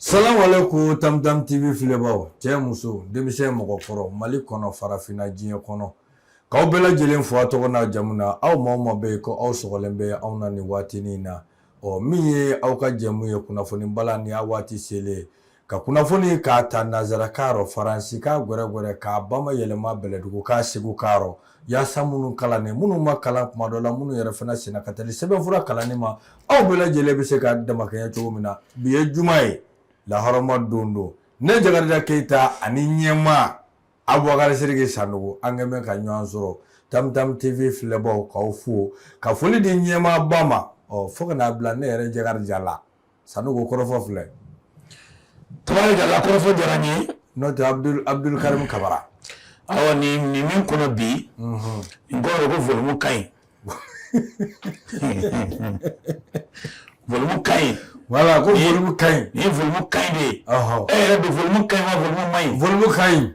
Salamu alaikum Tam Tam TV filɛbaaw cɛ muso denmisɛn mɔgɔkɔrɔ Mali kɔnɔ farafinna diɲɛ kɔnɔ k'aw bɛɛ lajɛlen fo a tɔgɔ n'a jamu na aw maa o maa bɛ yen ko aw sɔgɔlen bɛ anw na nin waatinin in na ɔ min ye aw ka jɛmu ye kunnafoni bala ni a waati selen ye ka kunnafoni k'a ta nanzarakan rɔ faransikan gwɛrɛgwɛrɛ k'a bamayɛlɛma bɛlɛdugukan segukan rɔ yaasa minnu kalannen minnu ma kalan kuma dɔ la minnu yɛrɛ fana senna ka teli sɛbɛnfura kalanni ma aw bɛɛ lajɛlen bɛ se ka damakɛɲɛ cogo min na bi ye juma ye laharama don don ne jakarija keyita ani ɲɛmaa abubakari siriki sanogo an kɛnɛman ka ɲɔgɔn sɔrɔ tamtam tv filɛbaaw k'aw fo ka foli di ɲɛmaaba ma ɔ fo ka n'a bila ne yɛrɛ jakarija la sanogo kɔrɔfɔ filɛ tabarikala kɔrɔfɔ diyara n ye n'o tɛ abudulu karimu kabara awa ni ni min kɔnɔ bi mhm. n kɔrɔ ko volumu ka ɲi volumu ka ɲi wala ko volumu ka ɲi ni volumu ka ɲi de ye e yɛrɛ don volumu ka ɲi wa volumu man ɲi volumu ka ɲi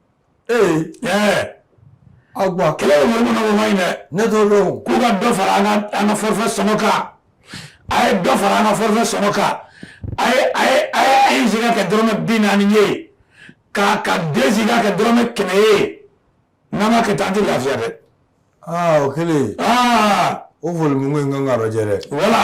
ee aw gba kɛlen bɛ volume nɔfɛ o man ɲi dɛ ne t'o dɔn k'u ka dɔ fara an ka an ka forfait sɔngɔ kan a ye dɔ fara an ka forfait sɔngɔ kan a ye a ye a ye a ye giga kɛ dɔrɔmɛ bi naani ye ka ka deux gigas kɛ dɔrɔmɛ kɛmɛ ye n'an ma kɛ tan an tɛ lafiya dɛ. aa o kɛlen. aa o volume ko in kan ka lajɛ dɛ. wala.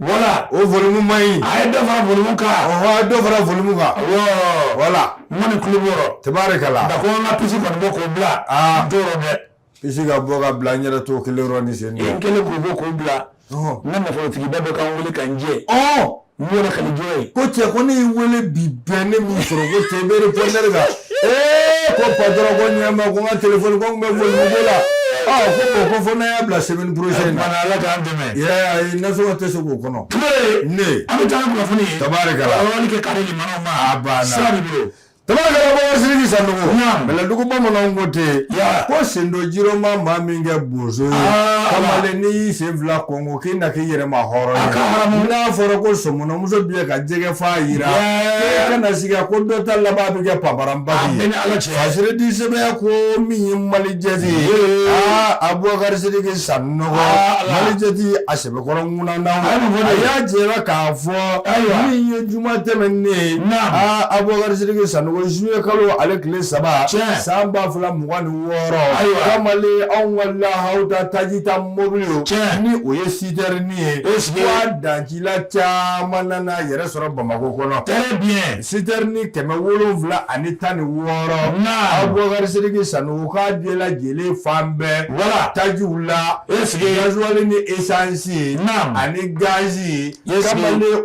Wala o volume man ɲi a ye dɔ fara volume kan ɔhɔ a ye dɔ fara volume kan awɔɔ voilà n kɔni kulo b'o rɔ tabarikala da ko an ka pisi kɔni bɔ k'o bila aa n t'o rɔ dɛ pisi ka bɔ ka bila n yɛrɛ t'o kelen rɔ ni sen n kelen k'o bɔ k'o bila ɔhɔ n ka nafolotigiba dɔ ka n wele ka n jɛ ɔɔ n b'o lakali jɔn ye ko cɛ ko ne y'i wele bi bɛɛ ne m'i sɔrɔ ko cɛ i bɛ répondeur kan ee ko patron ko ɲɛma ko n ka telefɔni ko n tun bɛ volume ko la ɔ ko bon ko fo n'an y'a bila semaine prochaine na ala k'an dɛmɛ I nasɔngɔ tɛ se k'o kɔnɔ ne an bɛ taa ni kunnafoni ye tabarikala kɛ kari ma sa bolo tabarikala abubakari siriki sanogo bɛlɛdugu bamananw ko ten ko sendon ji rɔ ma maa min kɛ bozo ye kamalen n'i y'i sen fila kɔnko k'i na k'i yɛrɛma hɔrɔn n'a fɔra ko sɔmɔnɔmuso b'i ka jɛgɛ fa jira e kana sigi ko dɔ ta laban bɛ kɛ paparaba ye a siridi sɛbɛn ko min ye malijɛti ye abubakari siriki sa malijɛti a sɛbɛkɔrɔ ŋan na a y'a jira k'a fɔ min ye juma tɛmɛnen ye aa abubakari siriki sanogo zuye kalo ale tile saba san ba fila mugan ni wɔɔrɔ ayiwa kamalen anw ka laha da tajita mobili ni o ye sitɛrini ye o sigi dan I caman nana yɛrɛ sɔrɔ bamakɔ kɔnɔ bi sitɛrini kɛmɛ wolonwula ani tan ni wɔɔrɔ abubakar siriki sanogo k'a bɛɛ lajɛlen fan bɛɛ wala tajiw la gasoil ni esansi ani gazi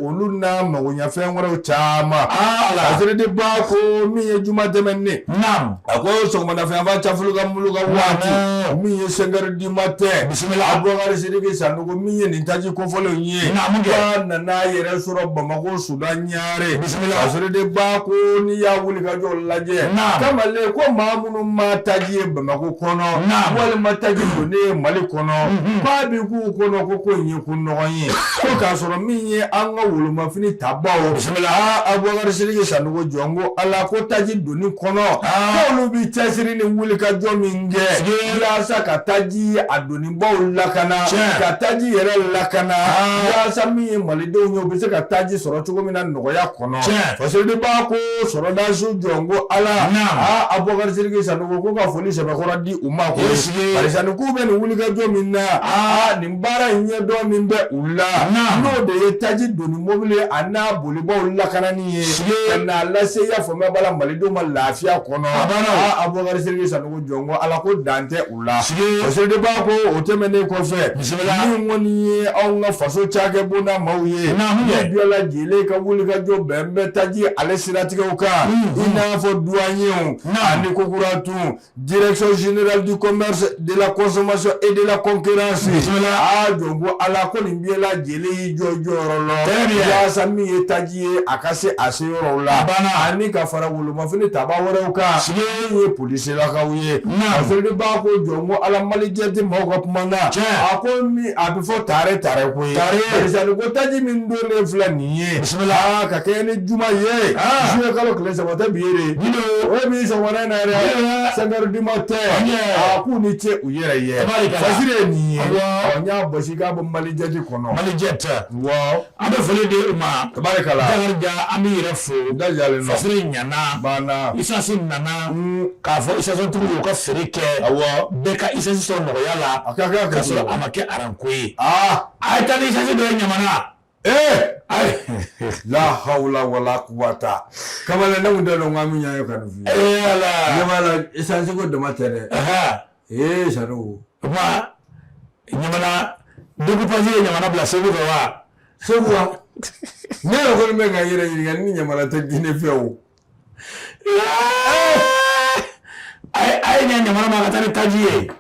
olu n'a magoɲɛfɛn wɛrɛw caman fasiri de b'a ko min ye juma tɛmɛnen a ko sɔgɔmadafɛnfa cɛfɔlɔ ka bolo ka waati min ye cinq heures du matin bisimila abubakar siriki san ko min ye nin taji kofɔlen in ye Nka mun kɛ? ba nana a yɛrɛ sɔrɔ bamakɔ sudan ɲare Bisimila. kasɔrɔ de b'a ko n'i y'a wulikajɔ lajɛ Naam. kamalen ko maa minnu ma taji ye bamakɔ kɔnɔ Naam. walima taji donni ye mali kɔnɔ k'a bi k'u kɔnɔ ko ko in ye ko nɔgɔn ye ko k'a sɔrɔ min ye an ka wolomafini tabaw Bisimila. aa abubakar siriki sanogo jɔn ko ala ko taji donni kɔnɔ Aa. k'olu bi cɛsiri ni wulikajɔ min kɛ Sigi. walasa ka taji a donni baw lakana ka taji yɛrɛ lakana walasa min ye malidenw ye u bɛ se ka taji sɔrɔ cogo min na nɔgɔya kɔnɔ fasiri de b'a ko sɔrɔdasiw jɔn ko ala aa abubakari siriki sanogo ko ka foli sɛbɛkɔrɔ di u ma ko barisa ni k'u bɛ nin wulikajɔ min na aa nin baara in ɲɛdɔn min bɛ u la n'o de ye taji donni mobili ye a n'a bolibaw lakanani ye ka n'a lase y'a faamuya b'a la malidenw ma lafiya kɔnɔ abubakari siriki sanogo jɔn ko ala ko dan tɛ Siri de b'a ko o tɛmɛnen kɔfɛ min kɔni ye anw ka faso cakɛbonda maaw ye nin bɛɛ lajɛlen ka wulikajɔ bɛn bɛ taji ale siratigɛw kan i n'a fɔ duwaɲew ani kokura tun direction générale du commerce de la consommation et de la concurrence aa jɔn ko ala ko nin bɛɛ lajɛlen y'i jɔ jɔyɔrɔ la walasa min ye taji ye a ka se a seyɔrɔw la banna ani ka fara wolo Mafini taba wɛrɛw kan min ye polisilakaw ye b'a ko jɔn ko ala malijɛti mɔgɔw ka kuma na a ko a bɛ fɔ tare tare ko ye bari ko taji min donnen filɛ nin ye ka kɛ ni juma ye juillet kalo tile saba tɛ bi ye o ye min sɔgɔmada in na yɛrɛ cinq heures du matin a k'u ni ce u yɛrɛ ye fasiri ye nin ye n y'a basi k'a bɔ malijɛti kɔnɔ malijɛti wa An bɛ foli di u ma tabarikala Dakarijan an b'i yɛrɛ fo u da jɛlen don fasiri ɲɛna a banna isasi nana k'a fɔ isasɔntigiw y'u ka feere kɛ awɔ bɛɛ ka isasi sɔrɔ nɔgɔya la a ka kɛ k'a sɔrɔ a ma kɛ aranko ye aa a ye taa ni isasi dɔ ye ɲamana ee ayi la hawla wala quwata kamalen ne kun t'a dɔn k'an bɛ ɲɔgɔn ye ka nin f'i ye ee ala ne b'a la esansi ko dama tɛ dɛ ɛhɛn ee sanogo ɲamana découpage ye ɲamana bila segu fɛ wa segu wa ne yɛrɛ kɔni bɛ ka yɛrɛ ɲininka ni ɲamana tɛ guinée fɛ o a ye a ye ɲɛ ɲamana ma ka taa ni taji ye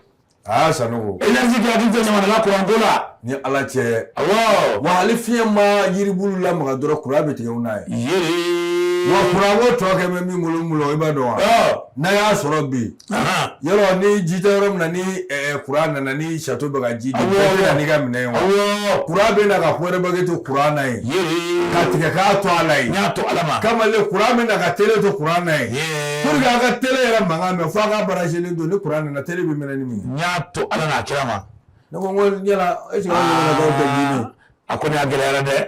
aa sanogo energie kɛ a tɛ jɔ ɲamana la kuranko la ni ala cɛ awɔ wa hali fiɲɛ ma yiribulu lamaga dɔrɔn kuran bɛ tigɛ u n'a ye yee wa kuranko tɔ kɛ bɛ min bolo n bolo i b'a dɔn wa ɔ n'a y'a sɔrɔ bi Yɔrɔ ni ji tɛ yɔrɔ min na ni kuran nana ni sato bɛ ka ji ka minɛ wa kuran bɛ na ka ko wɛrɛ bɛɛ to kuran na ye ka tigɛ k'a to ala ye y'a to ala kamalen kuran bɛ na ka tele to kuran na ye an ka tele yɛrɛ mankan mɛ fo a ka branchélen don ni kuran nana tele bɛ minɛ min n y'a to ala n'a kira ma ne ko e a kɔni a gɛlɛyara dɛ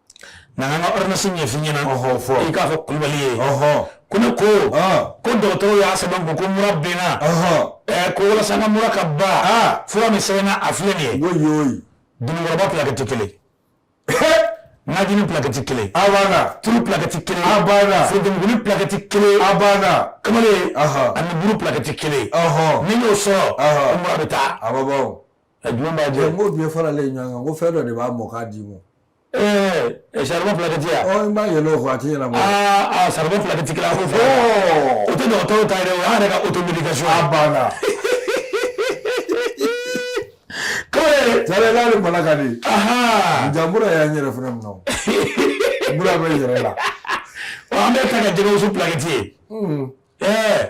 na an ka ordonnance ɲɛf'i ɲɛna i k'a fɔ kulubali ye ko ne ko ko dɔgɔtɔrɔw y'a sɛbɛn ko ko mura bɛ n na ko walasa n ka mura ka ban fura min sɛbɛnna a filɛ nin ye dunukɔrɔba plaquette kelen najini plaquette kelen a banna tulu plaquette kelen a banna forotomuguni plaquette kelen a banna kamalen ani buru plaquette kelen ni n y'o sɔrɔ mura bɛ taa a bɛ bɔ A jumɛn b'a jɛ n ko bɛɛ faralen ɲɔgɔn kan ko fɛn dɔ de b'a mɔ k'a d'i ma ɛɛ saribɔn plaquette yan ɔ n b'a yɛlɛ o kɔ a ti ɲɛnabɔ aa saribɔn plaquette kelen a ko fɔ o tɛ dɔgɔtɔrɔw ta ye dɛ o y'an yɛrɛ ka automédication a banna kɔrɛ tare n'ale mala ka di ja mura y'an yɛrɛ fana minɛ o mura bɛ yɛrɛ la an bɛ taa ka jɛgɛwusu plaquette ye ɛɛ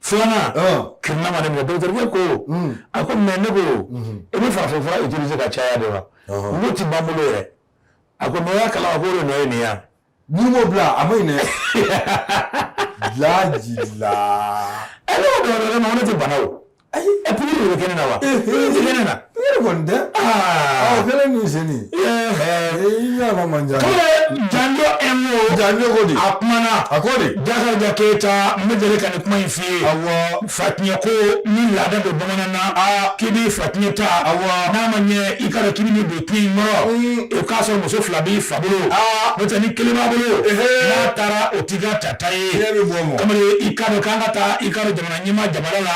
filanan ki ma ne ma dɔgɔtɔrɔkɛ ko a ko mais ne ko i bɛ farafin fura utiliser ka caya de wa n tɛ ba bolo yɛrɛ a ko mais y'a kalama ko o de nɔ ye nin ye n'i m'o bila a ma ɲi dɛ laji la ɛ ne ko dɔgɔtɔrɔkɛ ma ne tɛ bana o ayi ɛ pikiri de bɛ kɛ ne na wa pikiri tɛ kɛ ne na yɛrɛ kɔni tɛ ɔ kɛlɛ ni seni i ɲɛ ma man jan janjo ɛmo janjo ko di a kumana a ko di jakarija keyita n bɛ deli ka nin kuma in f'i ye awɔ fatiɲɛ ko min laada don bamanan na k'i b'i fatiɲɛ ta awɔ n'a ma ɲɛ i k'a dɔn k'i bɛ nin don k'i nɔrɔ o k'a sɔrɔ muso fila b'i fa bolo n'o tɛ ni kelen b'a bolo n'a taara o t'i ka tata ye kamalen i k'a dɔn k'an ka taa i k'a dɔn jamana ɲɛmaa jamana la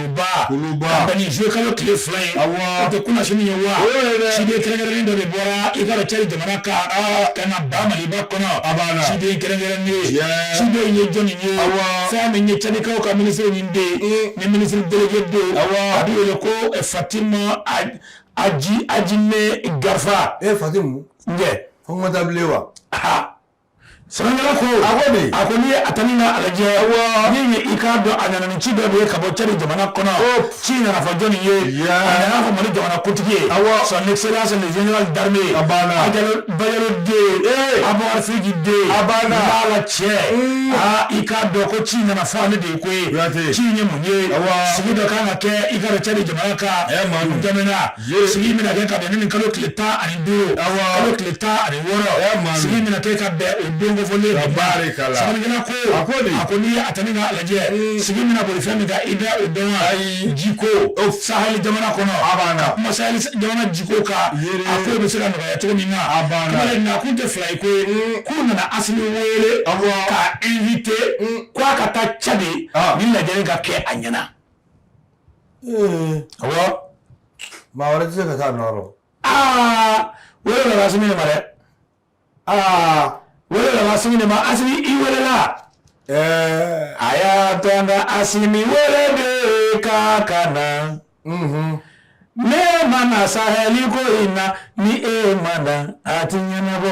ba kuluba ka bɛn ni zuwɛn kalo tile fila ye awɔ o tɛ kunasini ye wa o ye dɛ ciden kɛrɛnkɛrɛnnen dɔ de bɔra i k'a dɔn cadi jamana kan ka na ba maliba kɔnɔ a b'a la ciden kɛrɛnkɛrɛnnen ciden ye jɔni ye awɔ fɛn min ye cadikaw ka minisiri min bɛ yen ni minisiri délégué bɛ yen awɔ a bɛ wele ko fatima aji ajime garfa e fatimu n tɛ fo n ka taa bilen wa aa Sɛbɛnnikɛla ko a ko n'i ye a ta ni k'a lajɛ wa min ye i k'a dɔn a nana ni ci dɔ de ye ka bɔ cadi jamana kɔnɔ ci nana fɔ jɔni ye a nana fɔ mali jamana kuntigi ye a son excellence le général d'armée bayero den a bakarijansi den a banna lala cɛ aa i k'a dɔn ko ci nana fɔ ale de ye koyi ci ye mun ye sigi dɔ ka kan ka kɛ i k'a dɔn cadi jamana kan ma sigi bɛna kɛ ka bɛn ni kalo tile tan ani duuru kalo tile tan ani wɔɔrɔ sigi bɛna kɛ ka bɛn o don kofɔlen ka baara k'a la sɛbɛnnikɛla ko a ko de a ko n'i ye a ta ni k'a lajɛ sigi bɛna boli fɛn min kan i bɛ o dɔn wa ayi ji ko sahɛli jamana kɔnɔ a banna ka kuma sahɛli jamana ji ko kan a ko bɛ se ka nɔgɔya cogo min na a banna kamalen nakun tɛ fila ye koyi k'u nana asimi wele k'a invité k'a ka taa cadi ni lajɛrɛ ka kɛ a ɲɛna maa wɛrɛ tɛ se ka taa a nɔ rɔ aa wele nana asimi de ma dɛ aa wele nana asimi de ma asimi i welela ɛɛ a y'a to an ka asimi wele de k'a ka na n'e ma na sahɛli ko in na ni e ma na a tɛ ɲɛnabɔ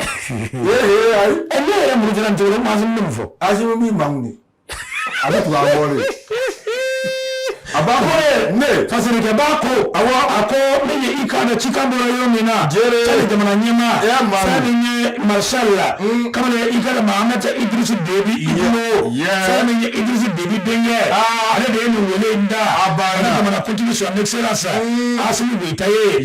ee ne yɛrɛ murutila cogo la mais asimi bɛ mun fɔ asimi b'i mangun de a bɛ tugu an kɔ de a b'a fɔ ye ne fasirikɛba ko awɔ a ko ne ye i k'a dɔn cikan bɔra yɔrɔ min na Jere. cadi jamana ɲɛmaa Ɛ, maa min. fɛn min ye marshal la Mm. kamalen ye i k'a dɔn mahamat idrisi debi itino Yeah. fɛn min ye idrisi debi denkɛ Ah. ale de ye nin wele in da A banna. ale jamana kuntigi son excellence Mm. asimi goyita ye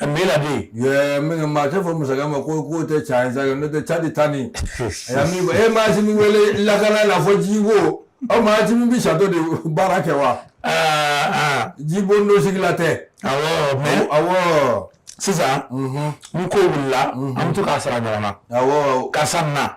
A bɛ na de min maa tɛ fɔ masakɛ ma ko k'o tɛ tiɲɛ ye sa n'o tɛ cadi ta nin e ma asimi wele lakana la fɔ ji ko aw ma asimi bɛ château de baara kɛ wa aa jibondon sigila tɛ mais sisan ni ko wulila an bɛ to k'a sara ɲɔgɔn na karisa na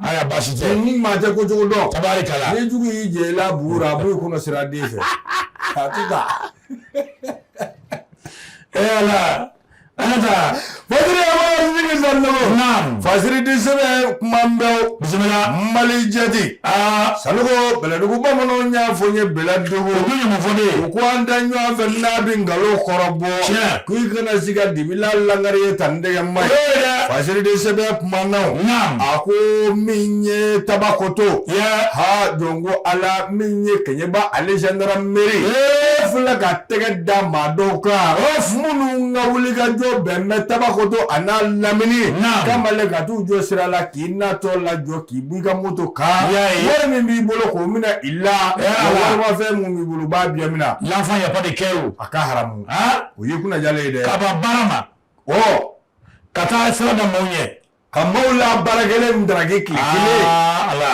Ayiwa baasi tɛ ni maa tɛ kojugu dɔn tabarikala ni jugu y'i jɛ la b'a b'u kɔnɔ sira den fɛ e ala fasiri di sɛbɛn kuma bɛ mali jate aa sanu bɛlɛdugu bamananw y'a fɔ ye bɛlɛdugu u ko an da ɲɔgɔn fɛ n'a bɛ nkalon kɔrɔbɔ k'i kana siga dibi la lagare ye tan tɛgɛ ma fasiriden sɛbɛn kumaw a ko min ye tabakoto ha jɔn ko ala min ye keɲɛba ale zandaramɛri filɛ ka tɛgɛ da maa dɔw kan minnu ka wulikajɔ bɛnnen bɛ tabakoto a n'a lamini kamalen ka t'u jɔ sira la k'i natɔ lajɔ k'i b'i ka moto kan wari min b'i bolo k'o minɛ i la warimafɛn mun b'i bolo u b'a bɛɛ minɛ lanfa yaba de kɛ o a ka haramu o ye kunajalen ye dɛ kaba baara ma ɔ ka taa sira da maaw ɲɛ ka maaw la baarakɛlen min daraki tile kelen ala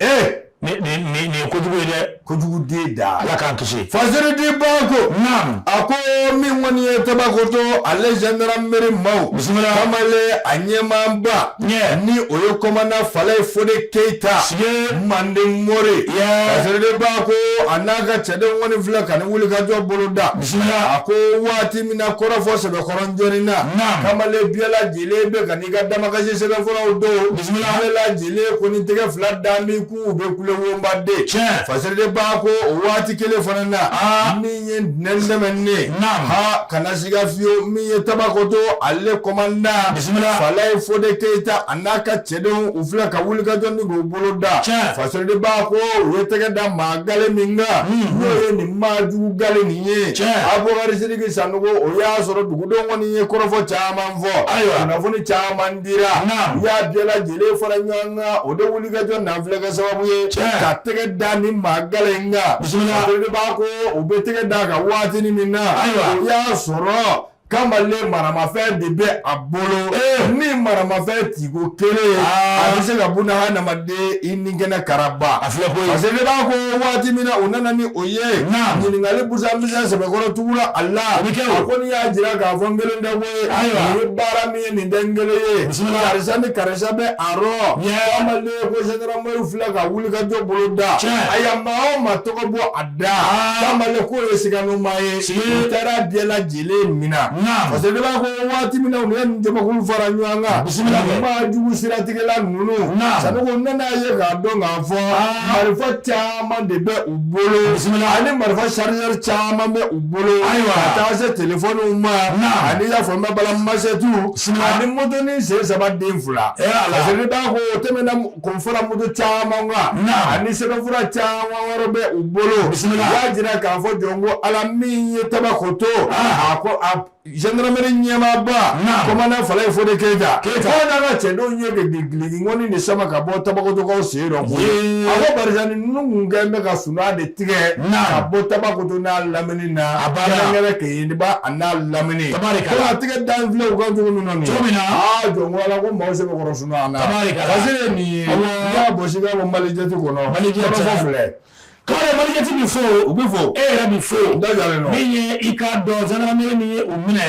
ee nin ye kojugu ye dɛ kojugu den da ala k'an kisi fasiriden bako naam a ko min kɔni ye tabakoto ale zandarameri maaw bisimila kamale a ɲɛmaaba ɲɛ ni o ye kɔmanda falayi fode keyita sige manden mori fasiriden bako a n'a ka cɛden kɔni filɛ ka ni wulikajɔ bolo da a ko waati min na kɔrɔfɔ sɛbɛkɔrɔ jɔni na kamalen bɛɛ lajɛlen bɛ ka n'i ka damakasi sɛbɛnfuraw don bɛɛ lajɛlen ko ni tɛgɛ fila dan min k'u bɛ kule wonbaden fasiriden bako o waati kelen fana na min ye ntɛnɛn sɛmɛnen ha kana siga fiyewu min ye tabakoto ale kɔmanda falayi fode keyita a n'a ka cɛdenw u filɛ ka wulikajɔ ni bolo da fasiriden bako u ye tɛgɛ da maa gale min kan n'o ye nin maa jugu gale nin ye abubakari sidiki sanogo o y'a sɔrɔ dugudenw kɔni ye kɔrɔfɔ caman fɔ ayiwa kunnafoni caman dira u y'a bɛɛ lajɛlen fara ɲɔgɔn kan o de wulikajɔ nanfilɛ kɛ sababu ye ka tɛgɛ da ni maa gale in kan fasiriden bako u bɛ tɛgɛ da a kan waatinin min na ayiwa o y'a sɔrɔ kamalen maramafɛn de bɛ a bolo ni maramafɛn tiko kelen a bɛ se ka buna hadamaden i ni kɛnɛ karaba a filɛ ko fasiriden bako waati min na u nana ni o ye ɲininkali busan busan sɛbɛkɔrɔ tugula a la a ko n'i y'a jira k'a fɔ n kelen tɛ ko ye nin ye baara min ye nin tɛ n kelen ye karisa ni karisa bɛ a rɔ kamalen ko zandarameriw filɛ ka wulikajɔ bolo da a ye maa o maa tɔgɔ bɔ a Da kamalen k'o ye siganamaa ye u taara bɛɛ lajɛlen mina fasiriden bako waati min u ye nin jamakulu fara ɲɔgɔn kan bisimila maa jugu siratigɛla ninnu sanogo nana ye k'a dɔn k'a fɔ marifa caman de bɛ u bolo bisimila ani marifa chargeur caman bɛ u bolo ayiwa ka taa se telefɔniw ma ani y'a fɔ bala masɛtiw ani motonin sen saba den fila fasiriden bako o tɛm kunfɔlɔ mugu caman ani sɛbɛnfura caman wɛrɛ bɛ u bolo y'a jira k'a fɔ jɔn ko ala min ye tabakoto a ko zandarameri ɲɛmaaba kɔmanda falayi fode keyita k'a n'a ka cɛdenw ye giligi ŋɔni de sama ka bɔ tabakotokaw sen dɔ a ko barisa ni ninnu kɛ bɛ ka sunaa de tigɛ ka bɔ tabakoto n'a lamini na kɛrɛnkɛrɛn keɲeba a n'a lamini tɛgɛ dalen filɛ u kan cogo min na jɔn ko mɔgɔ sɛbɛkɔrɔ malijɛti b'i fo u bɛ fo e yɛrɛ b'i fo min ye i k'a dɔn zandarameri min ye u minɛ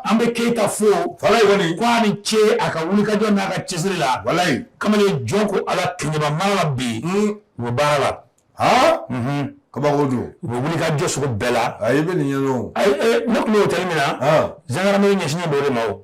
an bɛ keyita fo falayi kɔni ko a ni ce a ka wulikajɔ n'a ka cɛsiri la walayi kamalen jɔn ko ala kɛɲɛba mara la bi u bɛ baara la kabako don u bɛ wuli ka jɔ sugu bɛɛ la ayi i bɛ nin ɲɛdɔn ayi ne tun bɛ otɛli min na zandarameri ɲɛsinnen b'o de ma o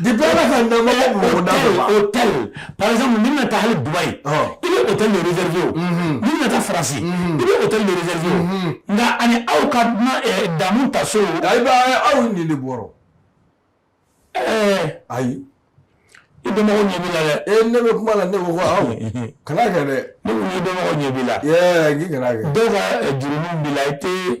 Depuis Ala ka dan ma bɔ mɔgɔ da dɔ la. Hôtel par exemple n'i bɛna taa hali Dubaï. Ɔn. I bɛ hôtel de réserver o. Unhun. N'i bɛna taa France. Unhun. I bɛ hôtel de réserver o. Unhun. Nka ani aw ka na ɛɛ damu ta so. Ayi ba aw nin de bɔrɔ. Ɛɛ. Ayi. I dɔnbagaw ɲɛ b'i la dɛ. Ee ne bɛ kuma la ne ko ko aw. Kana kɛ dɛ. Ne ko n'i dɔnbagaw ɲɛ b'i la. Ɛɛ k'i kana kɛ. Dɔw ka jurumu b'i la i tɛ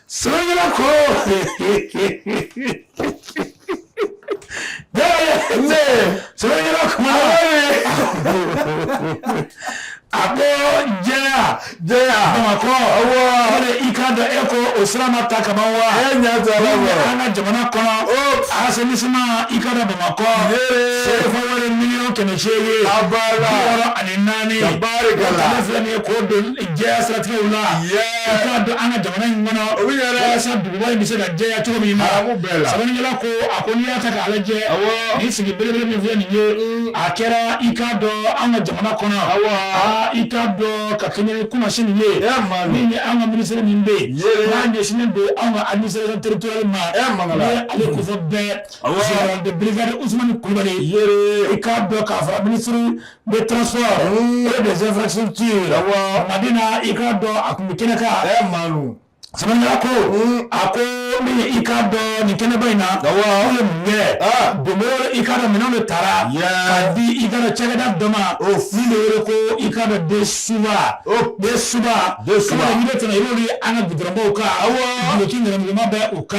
Sırgılaku! Ne? Sırgılaku! Apo jɛya jɛya Bamakɔ awɔ o de i k'a dɔn e ko o sira ma ta ka ban wa e ɲɛ t'a la wa an ka jamana kɔnɔ asɛnisiman i k'a dɔn Bamakɔ sefa wari miliyɔn kɛmɛ seegin a b'a la wɔɔrɔ ani naani tabarikala o tali filɛ nin ye k'o don jɛya siratezi la. k'a don an ka jamana in kɔnɔ o bɛ yɛrɛ walasa duguba in bɛ se ka jɛya cogo min na arabu bɛɛ la sɛbɛnnikɛla ko a ko n'i y'a ta k'a lajɛ awɔ nin sigi belebele min filɛ nin ye a kɛra i k'a dɔn an ka jamana kɔnɔ awɔ aa i k'a dɔn ka kɛɲɛ ni kunasinin ye ɛ maa min min ye an ka minisiri min bɛ yen Ye. n'a ɲɛsinnen don an ka administration territoriale ma ɛ maa n'o ye ale kofɔ bɛɛ Awɔ. général de brigade Ousmane Kulubali ye i k'a dɔn k'a fɔ minisiri de transport et des infrastructures Madina i k'a dɔn a tun bɛ kɛnɛ kan a ye maalu sɛbɛnnikɛla ko a ko i k'a dɔn nin kɛnɛba in na ye mun don i k'a dɔn minɛn de taara ka di i k'a dɔn cakɛda dɔ ma o de ko i k'a dɔn den suba den suba den su tɛmɛ i an ka gudɔrɔnbaw kan aw ɲama bɛ Ka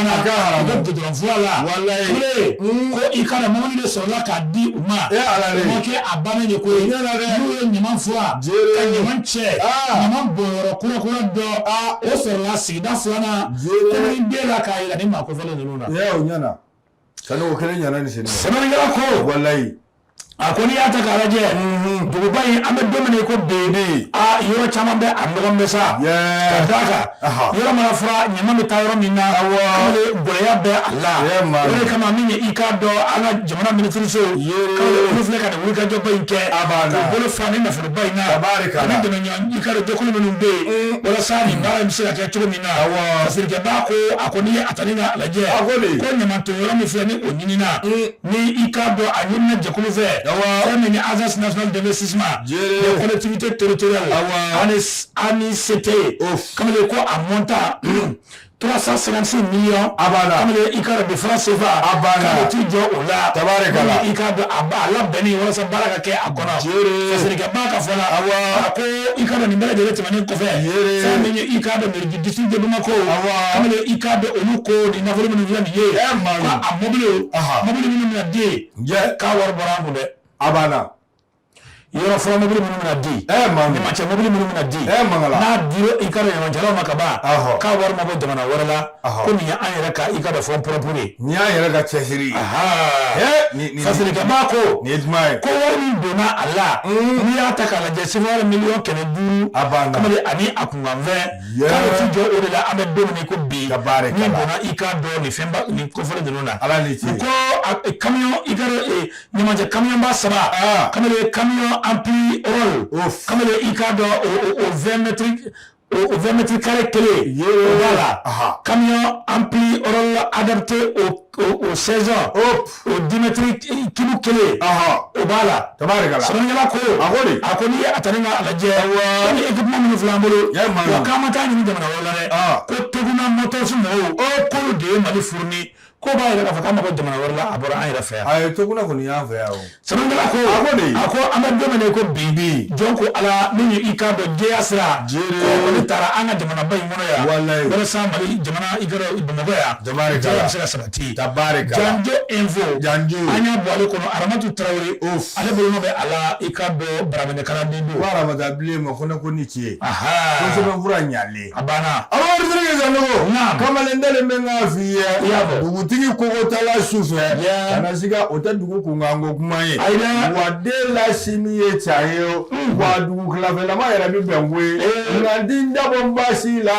i kana mɔbili de sɔrɔ ka di u ma ala kɛ a ba ye ko ye ɲuman fɔ ɲuman cɛ ɲuman bɔn kura kura dɔn o sɔrɔ sigida filanan den la k'a jira ni ma ko fana ninnu na sani o kelen ɲana ni sɛnɛ sɛbɛnnikɛla ko walayi a ko n'i y'a ta k'a lajɛ duguba in an bɛ don min na i ko bi bi a yɔrɔ caman bɛ a nɔgɔlen bɛ sa ka d'a kan yɔrɔ mana furan ɲama bɛ taa yɔrɔ min na ale gɛlɛya bɛ a la o de kama min ye i k'a dɔn an ka jamana minisiriso k'olu filɛ ka nin wulikajɔba in kɛ k'u bolo fa ni nafolo bayi na tabarika ani dɛmɛɲɔgɔn i k'a dɔn jɛkulu minnu bɛ yen walasa nin baara in bɛ se ka kɛ cogo min na fasirikɛ b'a ko a ko n'i ye a ta n'i y'a lajɛ ko ɲamanton yɔrɔ min filɛ nin o ɲinina ni i k'a dɔn a ɲinina jɛkulu fɛ fɛn min ye agence nationale d'investissement des collectivités territoriales ANICT kamalen ko a montant 356 millions a banna kamalen i k'a dɔn de francs CFA a banna ka t'i jɔ o la tabarikala i k'a dɔn a labɛnnen walasa baara ka kɛ a kɔnɔ jeere fasirikɛ b'a ka fɔ la awa a ko i k'a dɔn nin bɛɛ lajɛlen tɛmɛnen kɔfɛ jeere fɛn min ye i k'a dɔn mairie du district de Bamako awa kamalen i k'a dɔn olu ko ni nafolo minnu filɛ nin ye ɛ maa a mɔbili mɔbili minnu bɛna di k'a wari bɔra an kun dɛ a banna yɔrɔ fɔlɔ mobili minnu bɛna di ɲamacɛ mobili minnu bɛna di n'a dira i k'a dɔn ɲamacɛlaw ma ka ban k'a wari ma bɔ jamana wɛrɛ la ko nin ye an yɛrɛ ka i k'a dɔn fonds propres ye nin y'an yɛrɛ ka cɛsiri ye fasirikɛ b'a ko nin ye juma ye ko wari min donna a la n'i y'a ta k'a lajɛ sefawari miliyɔn kɛmɛ duuru a banna kamalen ani a kunkanfɛn k'a bɛ t'i jɔ o de la an bɛ don min ko bi min donna i k'a dɔn nin fɛnba nin kofɔlen ninnu na ala ni ce ko kamiyɔn i ka ɲamacɛ kamiyɔn ba saba ah. kamalen ye kamiyɔn ampliroll kamalen i k'a dɔn o vingt mètres carrés kelen o b'a la kamiyɔn ampliroll adapté o sɛzɔn o dix mètres cubes kelen o b'a la sɛbɛnnikɛla ko a ko n'i ye a ta n'i y'a lajɛ nin équipement minnu filɛ an bolo wa k'an ma taa ɲini jamana wɛrɛ la dɛ ko Toguna Motors mɔgɔw k'olu de ye mali fourni Ko b'a yɛrɛ k'a fɔ k'a ma bɔ jamana wɛrɛ la a bɔra an yɛrɛ fɛ yan a ye Toguna kɔni y'an fɛ yan o sɛbɛnkɛla ko a ko de a ko an bɛ don min na i ko bi bi jɔn ko ala min ye i k'a dɔn jɛya sira Jere. ko olu taara an ka jamanaba in kɔnɔ yan Walayi. walasa mali jamana i ka dɔn bamakɔ yan Tabarikala. jɛya bɛ se ka sabati Tabarikala. janjo info Janjo. an y'a bɔ ale kɔnɔ aramatu tarawele Of. ale bolonɔ bɛ a la i k'a dɔn baraminɛ kalanden don ko aramata bilen ma ko ne ko ni tiye ko Ahaa. sɛbɛnfura ɲalen abana kamalen ntalen bɛ n'a f'i ye dugutigi kokotala su fɛ kana siga o tɛ dugu kunkanko kuma ye wa den la sini ye ca ye o wa dugu kilafɛlama yɛrɛ bɛ bɛn ko ye nka n ti n dabɔ n ba si la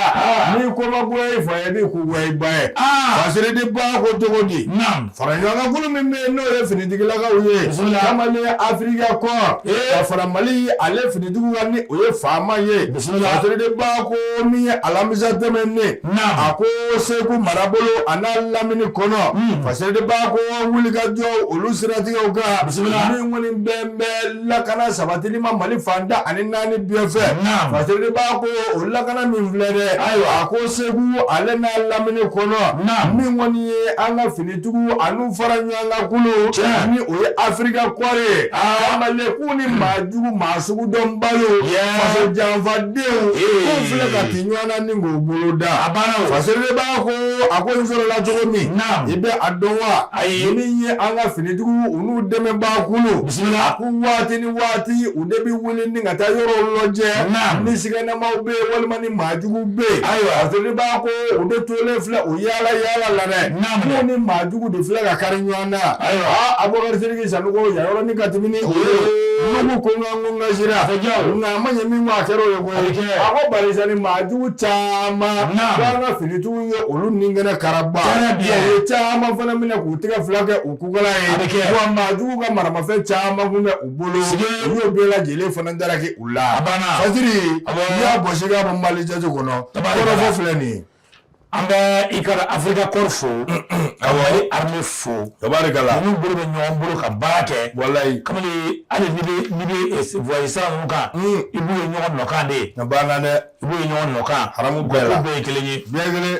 n'i ko ma goya i fa ye n'i ko goya i ba ye fasiride b'a ko cogo di faraɲɔgɔnkan kulu min bɛ yen n'o ye finitigilakaw ye kamalen Africa Corps ka fara mali ale finitigiw kan n'o ye FAMa ye Siride b'a ko min ye alamisa tɛmɛnen a ko segu marabolo a n'a lamini kɔnɔ hmm. fasiride b'a ko wulikajɔ olu siratigɛw kan min kɔni bɛ bɛn lakana sabatili ma mali fan tan ni naani bɛɛ fɛ fasiride b'a ko o lakana min filɛ dɛ ayiwa a ko segu ale n'a lamini kɔnɔ min kɔni ye an ka fini tigiw an'u faraɲɔgɔnkan kulu ni o ye afirika kɔɔri ye mali la k'u ni maa jugu maa sugu dɔnbaliw faso janfadenw k'u filɛ ka ti ɲɔgɔn na ni k'u bolo da a banna fasiri b'a ko a ko in sɔrɔla cogo min i bɛ a dɔn wa ayi min ye an ka finitigiw u n'u dɛmɛbaa kulu a ko waati ni waati u de bɛ wuli ni ka taa yɔrɔw lajɛ ni siganamaw bɛ yen walima ni maa jugu bɛ yen ayiwa fasiri b'a ko u de tolen filɛ o yaala yaala la dɛ n'u ni maa jugu de filɛ ka kari ɲɔgɔn na Abubakari Sidiki Sanogo yan yɔrɔ ni ka tɛmɛ ni o ye Nuhu ko n ka n ko n ka sira nka a ma ɲɛ min kɔ a kɛra o ye koyi a ko barisa ni maa jugu caman k'an ka finitigiw ye olu ni kɛnɛ karaba u ye caman fana minɛ k'u tɛgɛ fila kɛ u kukala ye wa maa jugu ka maramafɛn caman kun bɛ bolo u y'o bɛɛ lajɛlen fana daraki u la a banna fasiri n'i y'a bɔsi k'a bɔ mali jate kɔnɔ kɔrɔfɔ filɛ nin ye an bɛ i ka afirika kɔri fo awɔ a ye arme fo tabarikala ninnu bolo bɛ ɲɔgɔn bolo ka baara kɛ walayi kamalen hali n'i bɛ n'i bɛ voyage sira ninnu kan i b'u ye ɲɔgɔn nɔkan de a banna dɛ i b'u ye ɲɔgɔn nɔkan haramu bɛɛ la bɛɛ ye kelen ye bɛɛ kelen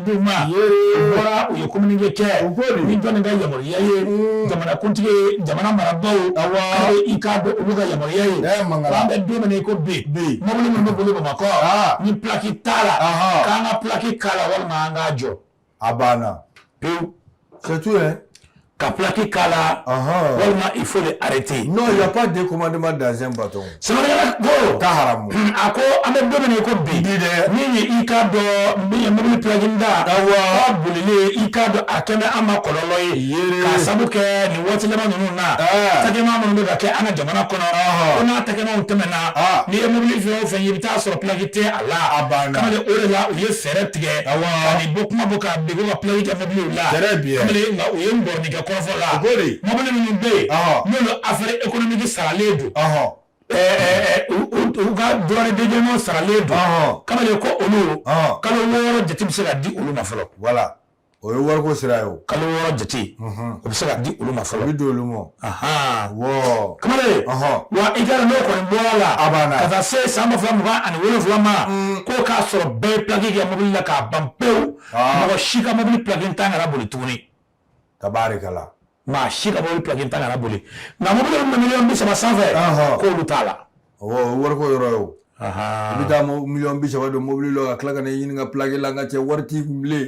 bɔra u ye communiqué kɛ ni jɔn ka yamaruya ye jamanakuntigi jamana marabagaw i k'a dɔn olu ka yamaruya ye an bɛ don min na i ko bi mɔbili minnu bɛ boli bamakɔ ni plaki t'a la k'an ka plaki k'a la walima an k'a jɔ a banna c'est tout ka plaki k'a la walima il faut les arrêter hein non y a pas de commandement sans bâton sa ko ka haramu a ko an bɛ don min na i ko bi di dɛ min ye i k'a dɔn min ye mobili plaki tan bolili i k'a dɔn a kɛlen bɛ an ma kɔlɔlɔ ye k'a sabu kɛ nin waati laban ninnu na atakɛma minnu bɛ ka kɛ an ka jamana kɔnɔ ko n'atakɛmaw tɛmɛna n'i ye mobili fɛn o fɛn ye i bɛ t'a sɔrɔ plaki tɛ a la a o de la u ye fɛɛrɛ tigɛ a bɔ kuma bɔ ka ka plaki u ye mɔgɔnɔni kɛ kɔrɔfɔ la mɔbili minnu bɛ yen n'u affaire économique saralen don u ka droit de douane saralen don kamalen ko olu kalo wɔɔrɔ jate bɛ se ka di olu ma fɔlɔ voilà o ye wariko sira ye kalo wɔɔrɔ jate o bɛ se ka di olu ma fɔlɔ bɛ di olu ma kamalen wa i ka n'o kɔni bɔra a la a banna ka taa se san ba fila mugan ani wolofila ma k'o k'a sɔrɔ bɛɛ ye plaki kɛ mɔbili la k'a ban pewu mɔgɔ si ka mobili plaki tan kana boli tuguni tabarikala maa si ka mobili plaki tan kana boli nka mobili min bɛ miliyɔn bi saba sanfɛ k'olu t'a la wariko yɔrɔ ye o i bɛ taa miliyɔn bi saba don mobili la ka tila ka na ɲini ka plaki la n ka cɛ wari t'i kun bilen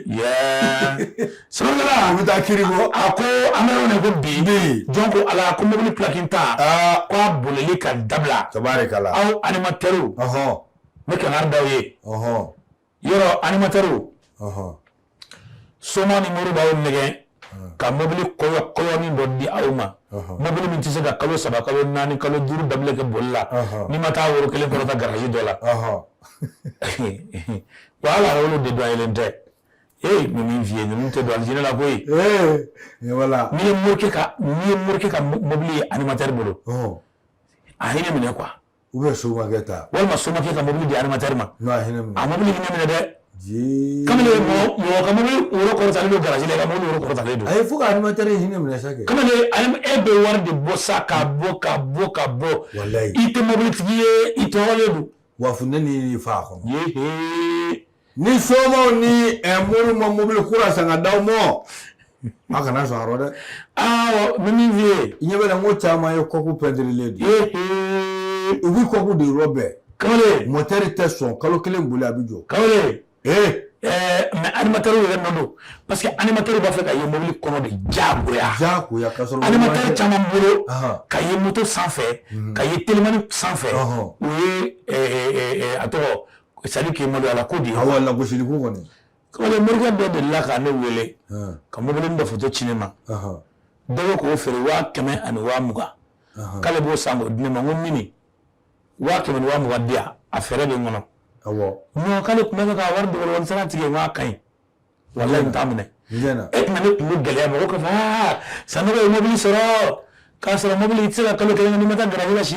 sɔrɔla a bɛ taa kiri bɔ a ko an bɛ yɔrɔ min ko bi jɔn ko ala ko mobili plaki tan k'a bolili ka dabila tabarikala aw animatɛriw n bɛ kankari d'aw ye yɔrɔ animatɛriw soma ni mori b'aw nɛgɛ ka mobili kɔyɔ kɔyɔnin dɔ di aw ma mobili min tɛ se ka kalo saba kalo naani kalo duuru daminɛ kɛ boli la n'i ma taa woro kelen kɔrɔta garaji dɔ la wa hali a wolo de dɔn yelen tɛ ee n ye min f'i ye ninnu tɛ don alijinɛ la koyi n'i ye morikɛ ka n'i ye morikɛ ka mobili ye animatɛri bolo a hinɛ minɛ quoi ou bien somakɛ ta walima somakɛ ka mobili di animatɛri ma n'a hinɛ a mobili hinɛ minɛ dɛ kamalen mɔgɔ ka mobili woro kɔrɔtalen don garaji la ka mobili woro kɔrɔtalen don a ye fo ka animatɛri hinɛ minɛ sa kɛ kamalen e bɛ wari de bɔ sa ka bɔ ka bɔ ka bɔ walayi i tɛ mobilitigi ye i tɔɔrɔlen don wa funteni y'i fa a kɔnɔ ni somaw ni eh, mori ma mobili kura san ka d'aw ma a kana sɔn a rɔ dɛ awɔ n ye min f'i ye i ɲɛ bɛ n na n ko caman ye kɔku pɛntirilen de ye u bi kɔku de rɔbɛn kamalen mɔtɛri tɛ sɔn kalo kelen boli a bi jɔ kamalen ee eh, mais animatɛri yɛrɛ nɔ don parce que animatɛri b'a fɛ ka ye mobili kɔnɔ de jagoya jagoya ka sɔrɔ animatɛri caman bolo ka ye moto sanfɛ ka ye telimani sanfɛ o ye a tɔgɔ c'est-à-dire que maloya ko de awɔ lagosili kɔni morikɛ dɔ delila ka ne wele ka mɔbili foto ci ne ma dɔ bɛ k'o feere waa kɛmɛ ani waa mugan k'ale b'o san k'o di ne ma ko mini waa kɛmɛ waa mugan di a fɛɛrɛ bɛ n kɔnɔ non k'ale tun bɛ ka wari sara tigɛ wa ka ɲi walayi n t'a minɛ e tun ne tun gɛlɛya mɔgɔ k'a fɔ Sanɔgɔ ye mɔbili sɔrɔ k'a sɔrɔ mɔbili tɛ se ka kalo kɛ n'i ma taa garaji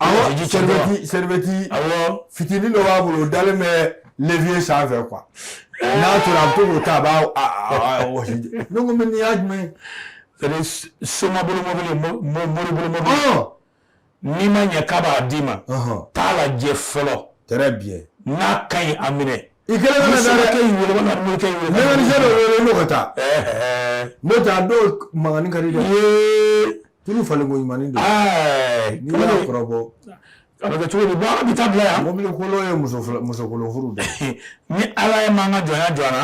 sɛrɛbɛti sɛrɛbɛti fitinin dɔ b'a bolo o dalen bɛ levier sanfɛ quoi n'a tora a bɛ to k'o ta a b'a wɔsi ne ko mais nin y'a jumɛn c'est-à-dire soma bolo mɔbili mori bolo mɔbili n'i ma ɲɛ k'a b'a d'i ma t'a lajɛ fɔlɔ très bien n'a ka ɲi a minɛ i kelen kana dɛ mɛkanisiyɛn dɔ wele n'o ka taa n'o tɛ a dɔw mankannin ka di dɛ tulu falen ko ɲuman don n'i y'a kɔrɔbɔ a bɛ kɛ cogo di bon a bɛ taa bila yan mobili kolon ye muso musokolon furu de ni ala ye maa ka jɔnya jɔ an na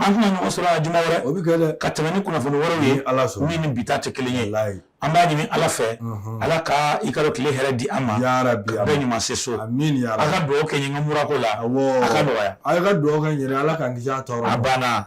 an tɛna ɲɔgɔn sɔrɔ a juma wɛrɛ o bɛ kɛ dɛ ka tɛmɛ ni kunnafoni wɛrɛw ye ala sɔrɔ min ni bi ta tɛ kelen ye an b'a ɲini ala fɛ ala ka i ka tile hɛrɛ di an ma yarabi a bɛɛ ɲuman se so amiina yarabi a ka dugawu kɛ n ye murako la a ka nɔgɔya a ka dugawu kɛ n ye ala ka n tɔɔrɔ a banna